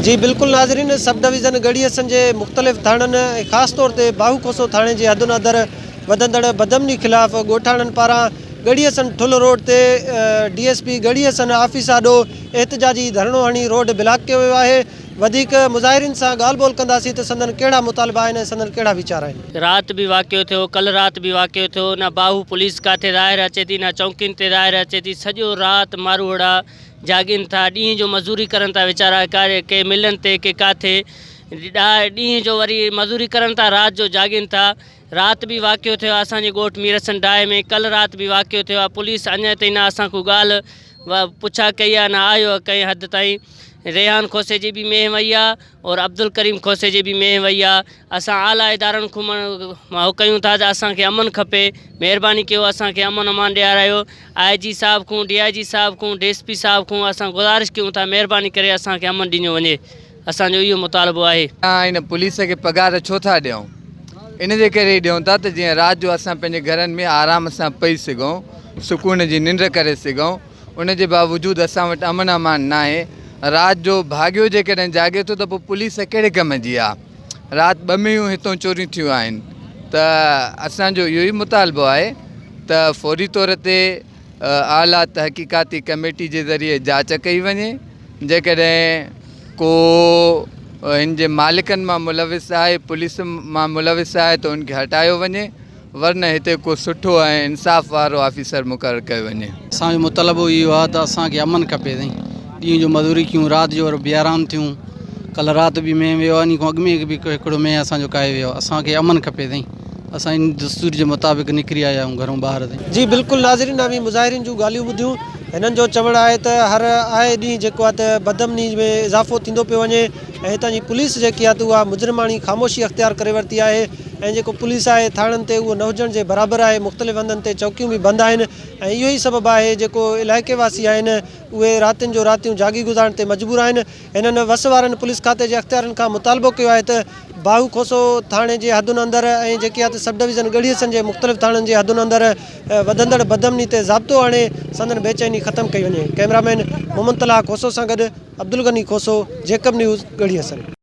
جي بلڪل ناظرين سب ڊويزن ڳڙهي حسن جي مختلف ٿاڻن خاص طور تي باهو کوسو ٿاڻي جي حدن اندر وڌندڙ بدامني خلاف ڳوٺاڻن پاران ڳڙهي حسن ٺل روڊ تي D S P Garhi Hassan office آڏو احتجاجي ڌرڻو هڻي روڊ بلاڪ ڪيو ويو آهي وڌيڪ مظاهرين سان ڳالهه ٻولهه ڪنداسين ته سندن ڪهڙا مطالبا آهن ۽ سندن ڪهڙا ويچار آهن. رات به واقعو ٿيو ڪلهه رات به واقعو ٿيو نه باهو پوليس ڪاٿي ظاهر اچي ٿي نه چونڪين تي ظاهر اچي ٿي سڄو رات ماروئڙا جاڳين ٿا، ڏينهن جو مزوري ڪرن ٿا ويچارا، ڪي ملن تي ڪي ڪاٿي، ڏينهن جو وري مزوري ڪرن ٿا رات جو جاڳين ٿا، رات به واقعو ٿيو آهي اسان جي ڳوٺ ميرحسن ڊاهي ۾ ڪلهه رات به واقعو ٿيو آهي پوليس اڃا تائين نه اسان ڪو ڳالهه پڇا ڪئي آهي نه آيو آهي ڪنهن حد تائين ريحان کوسي جي به مينهن وئي آهي اور عبدالڪريم کوسي جي به مينهن وئي آ اسان اعليٰ ادارن کون مهو ڪيون ٿا ته اسان کي امن کپي مهرباني ڪيو اسان کي امن امان ڏياريو آء جي صاحب کون ڊي آء جي صاحب کون ڊي ايس پي صاحب کون اسان گذارش ڪيون ٿا مهرباني ڪري اسان کي امن ڏنيو وڃي اسان جو اهو مطالبو آهي. اسان هن پوليس کي پگهار ڇو ٿا ڏيون ان جي ڪري ڏيون ٿا ته جيئن رات جو اسان پنهنجي گهرن ۾ آرام سان پئي سگهون سڪون جي ننڊ ڪري سگهون ان جي باوجود اسان وٽ امن امان ناهي، رات جو ڀاڳيو جيڪڏهن جاڳي ٿو ته پوء پوليس ڪهڙي ڪم جي آ، رات ٻه مينهون هتون چوريون ٿيون آهن ته اسان جو اهو ئي مطالبو آهي ته فوري طور تي اعليٰ تحقيقاتي ڪميٽي جي ذريعي جاچ ڪئي وڃي جيڪڏهن ڪو هن جي مالڪن مان ملوث آهي پوليس مان ملوث آهي ته ان کي هٽايو وڃي. ورنه هتي ڪو سٺو ۽ انصاف وارو آفيسر مقرر ڪيو وڃي. اسان جو مطلبو اهو آهي ته اسان کي امن کپي سائين. ڏينهن جو مزوري ڪيون، رات جو وري بي آرام ٿيون. ڪلهه رات به مينهن ويو آهي، انهي کان اڳ ۾ به هڪڙو مينهن اسان جو ڪاهي ويو آهي. اسان کي امن کپي سائين. اسان ان دستور جي مطابق نڪري آيا آهيون گهرون ٻاهر سائين. جي بلڪل ناظرين اوهين مظاهرين جون ڳالهيون ٻڌيون هنن جو چوڻ آهي ته هر آئي ڏينهن جيڪو آهي ته بدامني ۾ اضافو ٿيندو پيو وڃي ۽ هتان جي پوليس جيڪي آهي ته اها مجرماڻي خاموشي اختيار ڪري ورتي آهي ۽ جيڪو پوليس آهي ٿاڻن تي اهو نه هجڻ جي برابر آهي مختلف هنڌن تي چوڪيون به بند آهن ۽ اهو ئي سبب آهي جيڪو علائقي واسي آهن اهي راتين جو راتيون جاڳي گذارڻ تي مجبور آهن هنن وس وارن پوليس کاتي جي اختيارين کان مطالبو ڪيو آهي ته باهو کوسو ٿاڻي جي حدن اندر ۽ جيڪي آهي ته سب ڊويزن ڳڙهي حصن جي مختلف ٿاڻن جي حدن اندر وڌندڙ بدامني تي ضابطو آڻي سندن بيچيني ختم ڪئي وڃي ڪئميرا مين محمد طلحه کوسو سان گڏ عبدالغني کوسو جيڪب نيوز ڳڙهي حصن.